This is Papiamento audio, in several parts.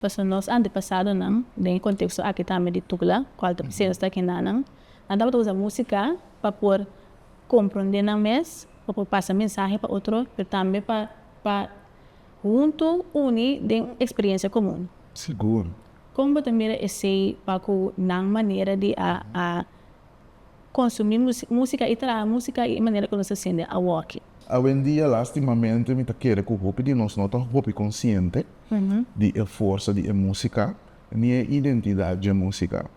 Pasobra nos antepasadonan, den e konteksto aki tambe di tugla, ku alta presensa ta kendanan, nan tabata usa músika pa por komprondé nan mes, pa por pasa mensahe pa otro, pero tambe pa pa huntu uni den un eksperiencia komun. Sigur. Kon bo ta mira esei pa ku nan manera di a a konsumí músika i traha músika i e manera ku nos ta siente awoki. Awendia, lástimamente mi ta kere ku hopi di nos no ta hopi konsiente di e forsa di e músika ni e identidat dje músika.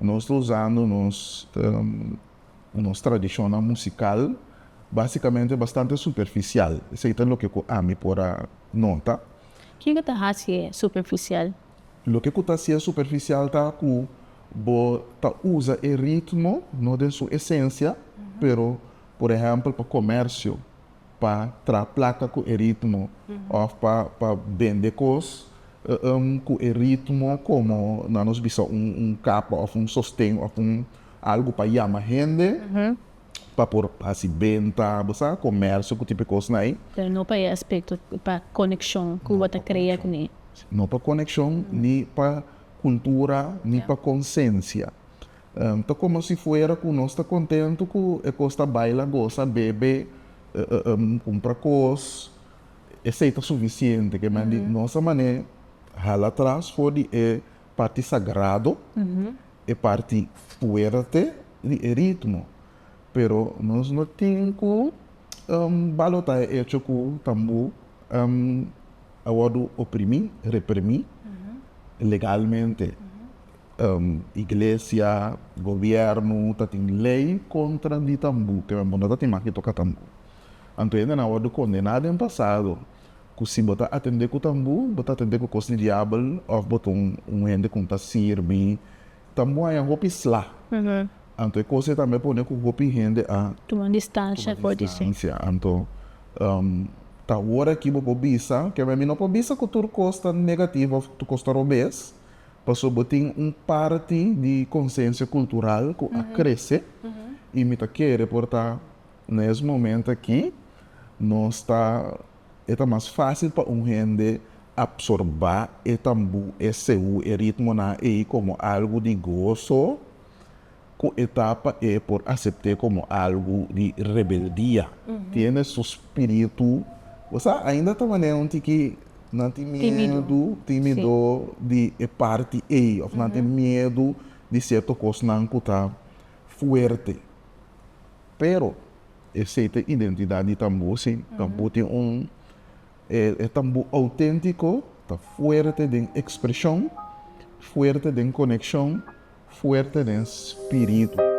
Nos ta usando nos nos tradishonnan musikal básikamente bastante superfisial, esei ta loke ku ami por a nota. Kiko ta hasi e superfisial? Loke ku ta sia superfisial ta ku bo ta usa e ritmo no den su esensia, pero por ehèmpel pa komèrsio, pa traha plaka ku e ritmo òf pa pa bende kos ku e ritmo komo nan nos bisa un kapa òf un sosten òf un algu pa yama hende. pa por hasi benta, bo sa, komersio ku tipo e kosnan ei. Pero no pa e aspekto, pa konekshon ku bo ta krea ku mi. No pa konekshon, ni pa kultura, ni pa konsensia. Ta komo si fuera ku nos ta kontentu ku e kos ta baila, gosa, bebe, kumpra kos, esei ta sufisiente. Kemandi nos a manera hala atras for di e. parti sagrado, e parti fuerte di e ritmo. Pero nos no tin cu balota e hecho cu tambo a wordo oprimi, reprimi legalmente. Iglesia, gobierno ta tin ley contra di tambo, pero abo no ta tin mas di toca tambo. Anto hende na wordo condena den pasado ku si bo ta atendé ku tambu, bo ta atendé ku kos di diabel òf bo ta un un hende ku no ta sirbi. Tambu a haña hopi sla. Anto e kos ei tambe a pone ku hopi hende a. Tuma distansia for di su. Anto, ta ora aki bo por bisa, ke mi no por bisa ku tur kos ta negativo òf tur kos ta robes, pasobra bo tin un parti di konsensia kultural ku a krese i mi ta kere por ta. Na es momento aki nos ta e ta mas fácil pa un hende absorbá e tambú, e seú, e ritmonan ei komo algu di goso ku e tapa e por asept'é komo algu di rebeldia. Tiene su spiritu. Bo sa, ainda ta manera un tiki nan tin miedu, tímido, di e parti ei òf nan tin miedu di sierto kosnan ku ta fuerte. pero esey ta identidad di tambo si tambo tin un e tambo autentico ta fuerte den expresion fuerte den coneccion fuerte den spiritu.